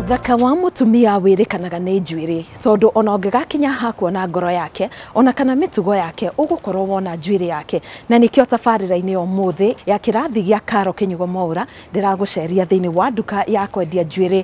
Thaka wa mutumia wirikanaga nĩ njuĩrĩ tondũ ona ũngĩgakinya ha kuona ngoro yake ona kana mĩtugo yake ũgũkorwo wona njuĩrĩ yake na nĩkĩo tabarĩra-inĩ ũmũthĩ ya kĩrathi gĩa Karo Kĩnyugo Mwaũra ndĩragũceria thĩinĩ wa nduka ya kwendia njuĩrĩ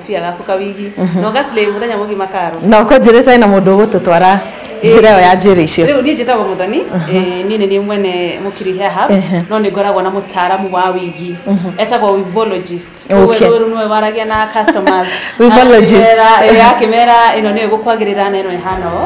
Pia gaku kawigi na ũgaslay mũthenya mũgima karo na ũkũnjĩrĩte hena mũndũ ũgũtũtwara njĩra ĩyo ya njĩra icio rĩu niĩ njĩtagwo mũthoni eh, niĩ nĩ niĩ mwene mũkiri hair hub Ehe. no nĩ ngoragwo na mũtaaramu wa wigi etagwo wivologist Rĩu Okay. rũĩ rũu nĩwe waragia na customers Wivologist. Akĩmera- eh, akĩmera ĩno nĩyo ĩgũkwagĩrĩra na ĩno ĩhana ũũ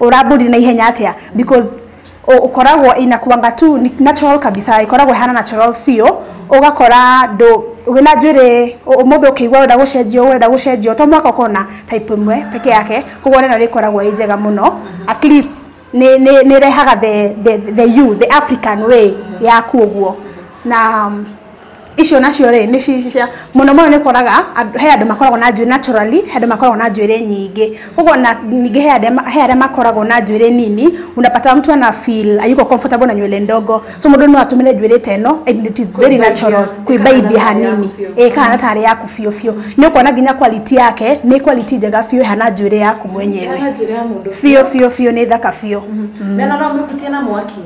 uramburi na ihenya atia because u- ukoragwo inakuanga tu ni natural kabisa ikoragwo ihana natural feel ugakora ndu wina njwiri umuthi ukigwa wenda gucenjio wenda gucenjio to mwaka ukona type imwe peke yake koguo rena rikoragwo i njega muno at least ni ni ni rehaga the the the you the african way yaku uguo na um, icio nacio rĩ nĩ ci- cia mũno mũno nĩ koraga andũ- he andũ makoragwo na njuĩrĩ naturally he andũ makoragwo na njuĩrĩ nyingĩ koguo na ningĩ he arĩa ma- he arĩa makoragwo na njuĩrĩ nini unapata mtu ana feel ayuko comfortable na nywele ndogo so mũndũ no atũmĩre njuĩrĩ ta ĩno and it is very Kũimbaimbia. natural kuimbaimbia Ĩkahana ta ĩrĩ hanini yaku biũ. ĩĩ kahana ta arĩ yaku biũ biũ nĩ ũkuona nginya quality yake nĩ quality njega biũ ĩhana njuĩrĩ yaku mwenyewe Ĩhana njĩra ya mũndũ biũ biũ biũ nĩ thaka biũ na no no mĩhutie na mwaki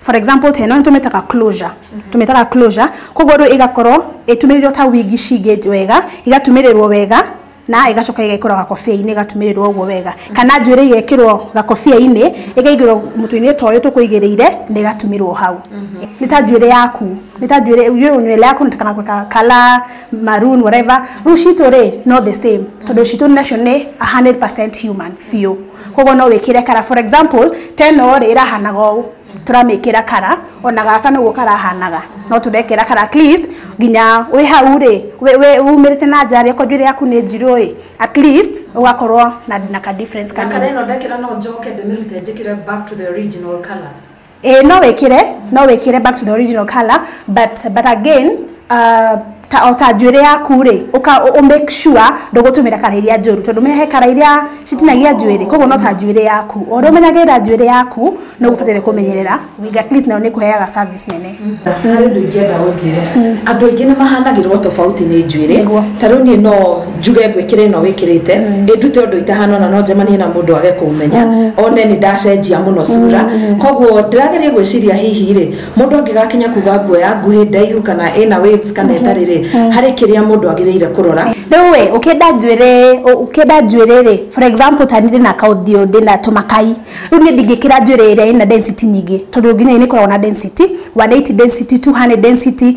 for example ta ĩno nĩtũmĩtaga closure tũmĩtaga closure koguo rĩu ĩgakorwo ĩtumĩrĩirwo ta wigi cingĩ wega igatumĩrĩrwo wega na ĩgacoka ĩgekĩrwo gakobia-inĩ ĩgatumĩrĩrwo ũguo wega kana njuĩrĩ igekĩrwo gakobia-inĩ ĩkaigĩrwo mũtwe-inĩ ta ũyũ tũkũigĩrĩire na ĩgatumĩrwo hau nĩ ta njuĩrĩ yaku nĩ ta njuĩrĩ you- nywele yaku kana gwĩka color maroon whatever rĩu citũ rĩ no the same tondũ citũ nacio nĩ 100% human biũ koguo no wĩkĩre kara for example teno rĩ ĩrahanaga ũũ tũramĩkĩra kara ona gaka noguo karahanaga no tũrekĩra kara at least nginya wĩ hau rĩ wĩ- wĩ- wumĩrĩte na nja rĩ okorwo njuĩrĩ yaku nĩ njirũ ĩ at least ũgakorwo na, na ka difference na kanini kana ĩno ndekĩra no njoke ndĩmĩrute njĩkĩre back to the original color Eh, no wikire no wikire back to the original color but but again uh, ta o ta njuĩrĩ yaku rĩ uka u make sure ndũgũtũmĩra kara iria njũru tondũ menya he kara iria citinagia njuĩrĩ koguo no ta njuĩrĩ yaku o ũrĩa ũmenyagĩrĩra njuĩrĩ yaku no ũbataire kũmenyerera wig at least nayo nĩ kũheaga service nene harä ndå ingä enda å njä re andå aingä nä mahanagä rwo tofauti nä njuä rä Nĩguo. tarä u niä no njuge ngwikira ino wikirite ndute undu itahana ona no njemanie na mundu age kumenya one ni ndacenjia muno cura koguo ndirageria gwiciria hihi ri mundu angigakinya kuga nguo ya nguhi ndaihu kana ina waves kana itari ri hari kiria mundu agirire kurora rĩu we ũkĩenda njuĩrĩ ũkĩenda njuĩrĩ rĩ for example ta nirĩ na kaũthiũ ndĩ na tũmakai rĩu niĩ ndingĩkĩra njuĩrĩ ĩrĩa ĩna density nyingĩ tondũ nginya nĩ ĩkoragwo na density 180 density 200 density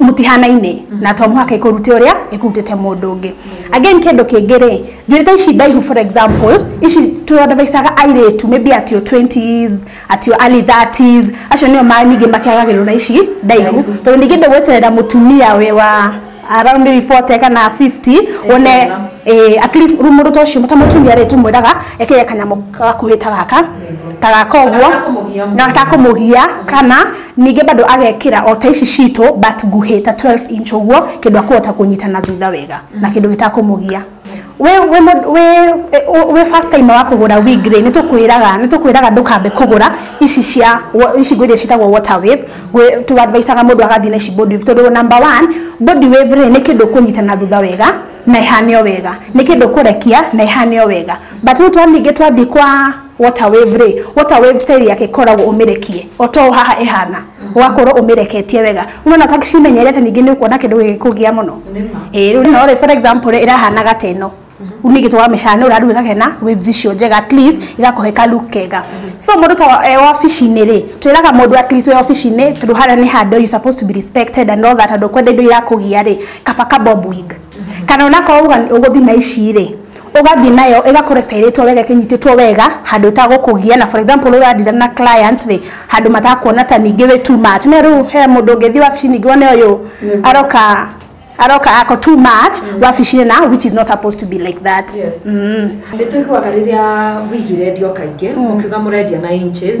mũtihanaine na to mũhaka ikũrute ũrĩa ĩkutĩte mũndũ ũngĩ again kĩndũ kĩngĩ rĩ njuĩrĩ ta ici ndaihu for example ici tũadvaicaga airĩtu maybe atio 20s atio early 30s acio nĩo ma ningĩ makĩagagĩrwo na ici ndaihu tondũ ningĩ ndũgweterera mũtumia wĩ wa around maybe 40 kana 50 one eh, at least mũndũ ta ũcio ta mũtumia rĩ tũmwĩraga ekĩre kanyamũ gakuhĩ ta gaka ta gaka ũguo Gatakũmũgia. gatakũmũgia kana Ningĩ bado agekĩra o ta ici citũ but nguhĩ ta 12 inch ũguo kĩndũ akũhota kũnyita na thutha wega na kĩndũ gĩtakũmũgia we we we we first time wa kugura wig ri ni tukwiraga ni tukwiraga ndukambe kugura ici cia ici ngwire citagwo water wave tu advice aga mundu agathi na ici body wave tondu number 1 body wave ri ni kindu kunyita na thutha wega na ihane wega ni kindu kurekia na ihane wega but tu twaminge twathi kwa water wave rĩ water wave cell yake koragwo umirekie oto haha ehana ugakorwo umireketie wega unaona kaka cimenyerete ningĩ nĩ ũkuona kĩndũ gĩgĩkũgia mũno ĩĩ rĩu no rĩ for example rĩ ĩrahana gata ĩno rĩu ningĩ twaramĩcana nĩ ũrarugä kake na waves icio njega at least igakũhe ka look kega so mũndũ ta e wabici-inĩ rĩ twĩraga mũndũ at least wĩ wabici-inĩ tondũ harĩa nĩ handũ you supposed to be respected and all that andũ kwenda indo irakũgia rĩ kaba ka bob wig kana onakorwo uga nĩ ũgũthiĩ na ici rĩ ũgathiĩ nayo ĩgakorwo ĩtairĩtwo wega ĩkĩnyitĩtwo wega handũ ĩtagũkũgia na for example ũrandira na clients rĩ handũ matakuona ta ningĩ wĩ too much no rĩu he mũndũ ũngĩthiĩ wabici ningĩ wone ũyũ aroka aroka ako too much wabici-inĩ na which is not supposed to be like that Yes. mm. nĩ tũiguaga rĩrĩa wigire ndio kaingĩ ũkiuga mũrendia na inches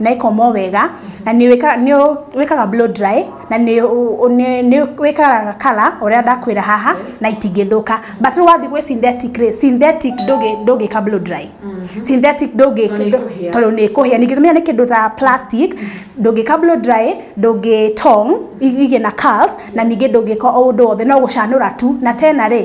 na ĩkomwo wega na nĩ wĩka- nĩ ũ- wĩkaga blow dry na nĩ ũ- ũ- nĩ- nĩ wĩkaraga kala ũrĩa ndakwĩra haha na itingĩthũka but rĩu wathiĩ gwĩ synthetic rĩ synthetic ndũngĩ- ndũngĩka blow dry synthetic ndũngĩ Tondũ nĩ ĩkũhĩa. tondũ nĩ ĩkũhĩa ningĩ tũmenya nĩ kĩndũ ta plastic ndũngĩka blow dry ndũngĩtong igĩe na curls na ningĩ ndũngĩka o ũndũ wothe no gũcanũra tu na tena rĩ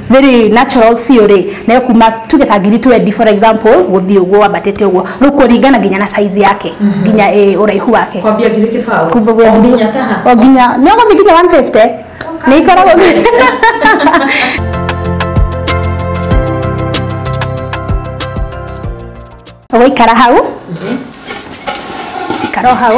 very natural theory na yo kuma tuge ta ngiri 20 for example guthii uguo wambatite uguo riu kuringana nginya na size yake nginya eh, uraihu wake kwambia ngiri kibaũ Kumbe gwe- nginya taha o nginya nä å gå thiä nginya 150 nä ikoragwo gå ikara hau ikara o hau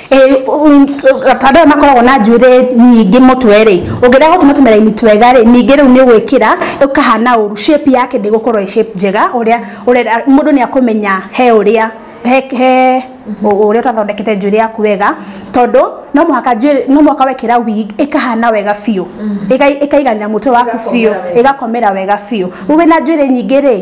ta andũ aya makoragwo na njuĩrĩ nyingĩ mũtwe rĩ ũngĩrega gũtuma tũmĩraini twega rĩ ningĩ rĩu nĩ ũgwĩkĩra ũkahana ũru shape yake ndĩgũkorwo ĩ shape njega ũrĩa ũrenda mũndũ nĩ akũmenya he ũrĩa he he ũrĩa ũtathondekete njuĩrĩ yaku wega tondũ no mũhaka njuĩrĩ no mũhaka wekĩra wig ĩkahana wega biũ ĩga ĩkaiganĩra mũtwe waku biũ ĩgakomera wega biũ rĩu wĩna njuĩrĩ nyingĩ rĩ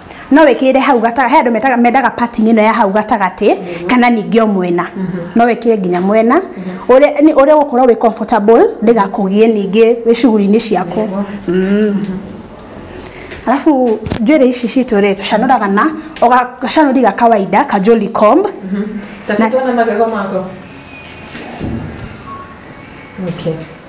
no wĩkĩrĩre hau gatagatĩ he andũ metaga mendaga pattern ĩno ya hau gatagatĩ kana ningĩ o mwena no wĩkĩre nginya mwena ũrĩa nĩ- ũrĩa ũgũkorwo wĩ comfortable ndĩgakũgie ningĩ wĩ shughuli-inĩ ciaku Mm. alafu njuĩrĩ ici citũ rĩ tũcanũraga na o ga- gacanũri ga kawaida ka jolly comb Takitona magego mako. Okay.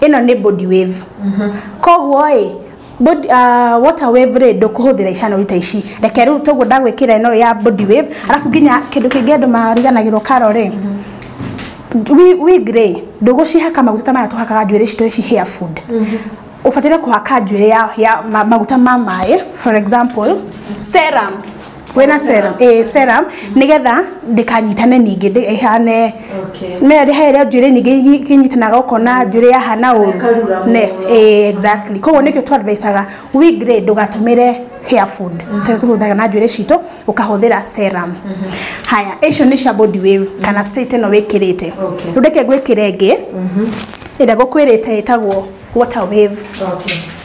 ĩno nĩ body wave koguo ĩ body- ah, water wave rĩ ndũkũhũthĩra icanũri ta ici reke rĩu toguo ndagwĩkĩra ĩno ya body wave arabu nginya kĩndũ kĩngĩ andũ mariganagĩrwo karo rĩ wi- wig rĩ ndũgũcihaka maguta ta maya tũhakaga njuĩrĩ citũ ici hair food ũbataire kũhaka njuĩrĩ ya, ya ma, maguta ma maĩ for example serum wĩna serum eh serum nigetha ndikanyitane ningĩ ndĩ- ĩhane Okay. no ĩrĩhe ĩrĩa njuĩrĩ ningĩ kĩnyitanaga ũkona njuĩrĩ yahana ũru Ĩkarura mũno. Ne, eh, exactly koguo nĩkĩo twadvisaga we grade ndũgatũmĩre hair food tondũ tũhũthagĩra na njuĩrĩ citũ ũkahũthĩra serum haya icio nĩ cia body wave kana straight ĩno wĩkĩrĩte Okay. rĩu reke ngwĩkĩre ĩngĩ ĩrĩa gũkwĩrĩte ĩtagwo water wave Okay.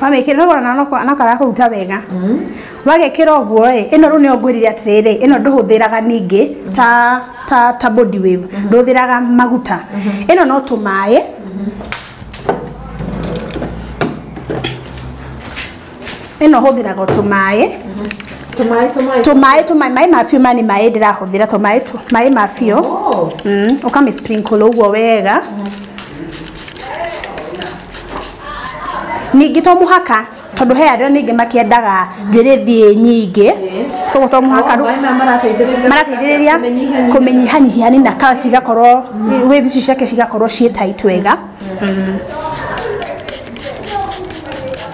wamĩkĩra nĩwona na no- na karakũruta wega wagekĩra ũguo ĩ ĩno rĩu nĩyo ngwĩrire atĩrĩrĩ ĩno ndũhũthĩraga ningĩ ta ta ta body wave ndũhũthĩraga maguta ĩno no tũmaĩ ĩno hũthĩraga o tũmaĩ Tũmaĩ, tũmaĩ. tũmaĩ tũmaĩ maĩ ma biũ maya nĩ maĩ ndĩrahũthĩra tũmaĩ tũ maĩ ma biũ Oh. Mm, ũkamĩ sprinkle ũguo wega ningĩ to mũhaka tondũ he arĩa ningĩ makĩendaga njuĩrĩ thiĩ nyingĩ so to mũhaka rũ- Maĩ maya marateithĩrĩria- marateithĩrĩria Kũmĩnyihanyihia. kũmĩnyihanyihia nina kana cigakorwo wĩthi ici ciake cigakorwo ciĩ tight wega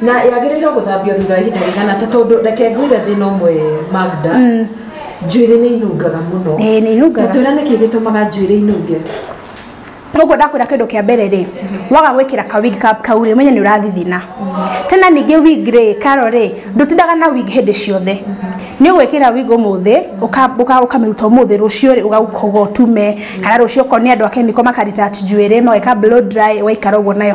na yagĩrĩirwo gũthambio thutha wa ihinda rĩigana ta tondũ reke ngwĩre thĩna ũmwe magda njuĩrĩ nĩ inungaga mũno Ĩĩ, nĩ inungaga. Na twĩra nĩkĩ gĩtũmaga njuĩrĩ inunge koguo ndakwĩra kĩndũ kĩa mbere rĩ waga gwĩkĩra ka wig ka- kau rĩ menye nĩ ũrathithina tena ningĩ wig rĩ karo rĩ ndũtindaga na wig hĩndĩ ciothe nĩ ũgwĩkĩra wig ũmũthĩ ũka- ũka- ũkamĩruta ũmũthĩ rũciũ rĩ ũgauka ũgotume kana rũciũ okorwo nĩ andũ a kemiko makarita njuĩrĩ mageka blow dry ũgaikara ũguo nayo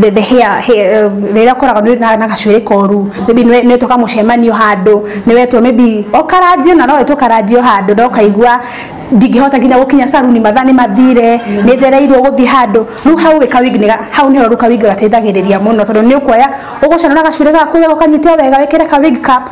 the, the hair, hair uh, rĩrĩa ũkoraga nĩ na na gacuĩrĩ koru maybe nĩ nĩ tũka mũcemanio handũ nĩ wetwo maybe ũkaranjio na no wetwo karanjio handũ no kaigua ndingĩhota nginya gũkinya saruni mathaa nĩ mathire nĩ njereirwo gũthiĩ handũ rĩu hau wĩ kawigi nĩ ga- hau nĩho rĩu kawigi gateithagĩrĩria mũno tondũ nĩ ũkuoya ũgũcana na gacuĩrĩ gaku wega ũkanyite wega wĩkĩre kawigi ka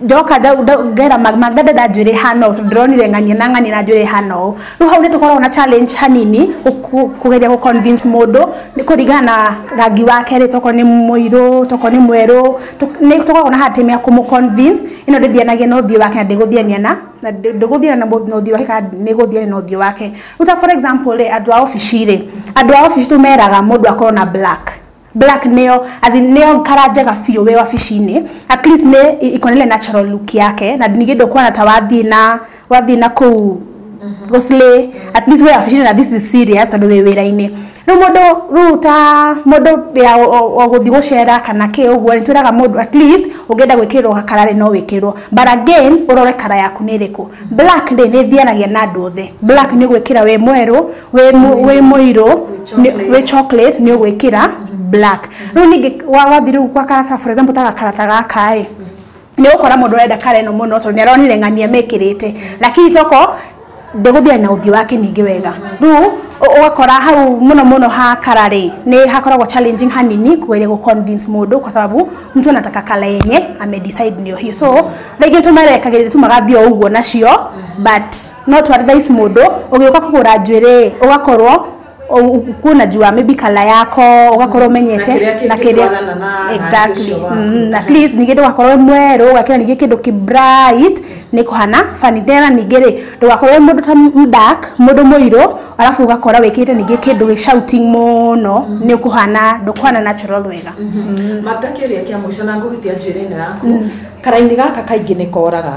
ndoka ngera maganda nda njwĩrĩ hana ũũ ndĩronire ng'ania na ng'ania na njwĩrĩ hana ũũ rĩu hau nĩ tũkoragwo na challenge hanini kũgeria gũ convince mũndũ nĩ kũringana na rangi wake rĩ tokorwo nĩ mũirũ tokorwo nĩ mwerũ nĩ tũkoragwo na hard time ya kũmũ convince ĩno ndĩthianagia na ũthiũ wake na ndĩgũthiania na na ndĩgũthiana na ũthiũ wake kana nĩgũthiania na ũthiũ wake rĩu ta for example rĩ andũ a obici rĩ andũ a obici tũmeraga mũndũ akorwo na black black neo as in neo kara njega biũ wĩ wabici-inĩ at least nĩ i- ikonele natural look yake na ningĩ ndũkuona ta wathiĩ na wathiĩ na kũu gũcilĩ at least wĩ wabici-inĩ na this is serious tondũ wĩ wĩra-inĩ rĩu mũndũ rĩu ta mũndũ ya o- o- o gũthiĩ gũcera kana kĩ ũguo nĩ twĩraga mũndũ at least ũngĩenda gwĩkĩrwo gakara rĩ no wĩkĩrwo but again ũrore kara yaku nĩ ĩrĩkũ black rĩ nĩ ĩthianagia na andũ othe black nĩ gwĩkĩra wĩ mwerũ wĩ mũ- wĩ mũirũ nĩ- wĩ chocolate nĩ ũgwĩkĩra black rĩu ningĩ wa- wathiĩ rĩu gwa karata for example ta gakarata gaka ĩ nĩ ũkora mũndũ ũrenda kara ĩno mũno tondũ nĩ aronire ng'ania mekĩrĩte lakini toko ndĩgũthiana na ũthiũ wake ningĩ wega rĩu ũ- ũgakora hau mũno mũno ha kara rĩ nĩ hakoragwo challenging hanini kugeria gũ convince mũndũ kwa sababu mtu anataka kala yenye amedecide ndio hiyo so rĩngĩ tũmerekagĩrĩria tumagathiĩ o ũguo nacio mhm. but no to advice mũndũ ũgĩũka kũgũra njuĩrĩ ũgakorwo kuna jua maybe kala yako ugakorwo mhm. menyete na kiria exactly mhm. at least ningä ndå gakorwo mwerå å gakä ra ningä kä ndå kä bright nä kå hana bani tena ningä rä ndå gakorwo må ndå ta mdak må ndå må irå arabu ugakora wikite ningi kindu wi shouting muno mm. ni kuhana ndukuhana natural wega mm. Mm. matakiria kia mwisho na nguhitia njwiri ino yaku karaini gaka kaingĩ nĩ koraga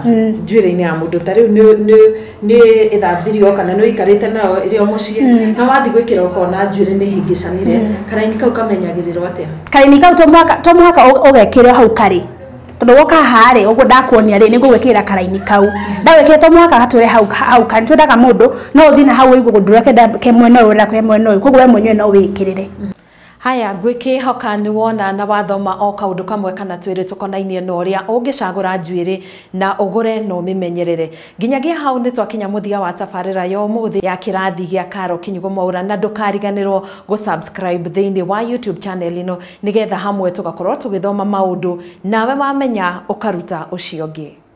njuĩrĩ-inĩ ya mũndũ ta rĩu nĩ- nĩ- nĩ ĩthambirio kana nĩ ũikarĩte nayo ĩrĩ o mũciĩ na wathiĩ gwĩkĩra ũkona njuĩrĩ nĩ hĩngĩcanire karaini kau kamenyagĩrĩrwo atĩa kaini kau to mũhaka- to mũhaka ũ- ũgekĩre hau karĩ tondũ woka haha rĩ ũguo ndakuonia rĩ nĩ ngũgwĩkĩrĩra karaini kau ndagwĩkĩra to mũhaka gatwĩre hau hau karĩ twendaga mũndũ no ũthiĩ na hau ũigue ũndũ ũrĩa kenda ke mwena ũyũ ũrĩa ke mwena ũyũ koguo we mwenyewe no wĩkĩrĩre Haya, ngwĩkĩĩhoka nĩ wona na wathoma o kaũndũ kamwe kana twĩrĩ tũkonainie na ũrĩa ũngĩcagũra njuĩrĩ na ũgũre na ũmĩmenyerere. Nginyagia hau nĩ twakinya mũthia wa tabarĩra ya ũmũthĩ ya kĩrathi gĩa Caro Kinyugũ Mwaura na ndũkariganĩrwo gũ subscribe thĩinĩ wa YouTube channel ĩno nĩgetha hamwe tũgakorwo tũgĩthoma maũndũ nawe wamenya ũkaruta ũcio ũngĩ.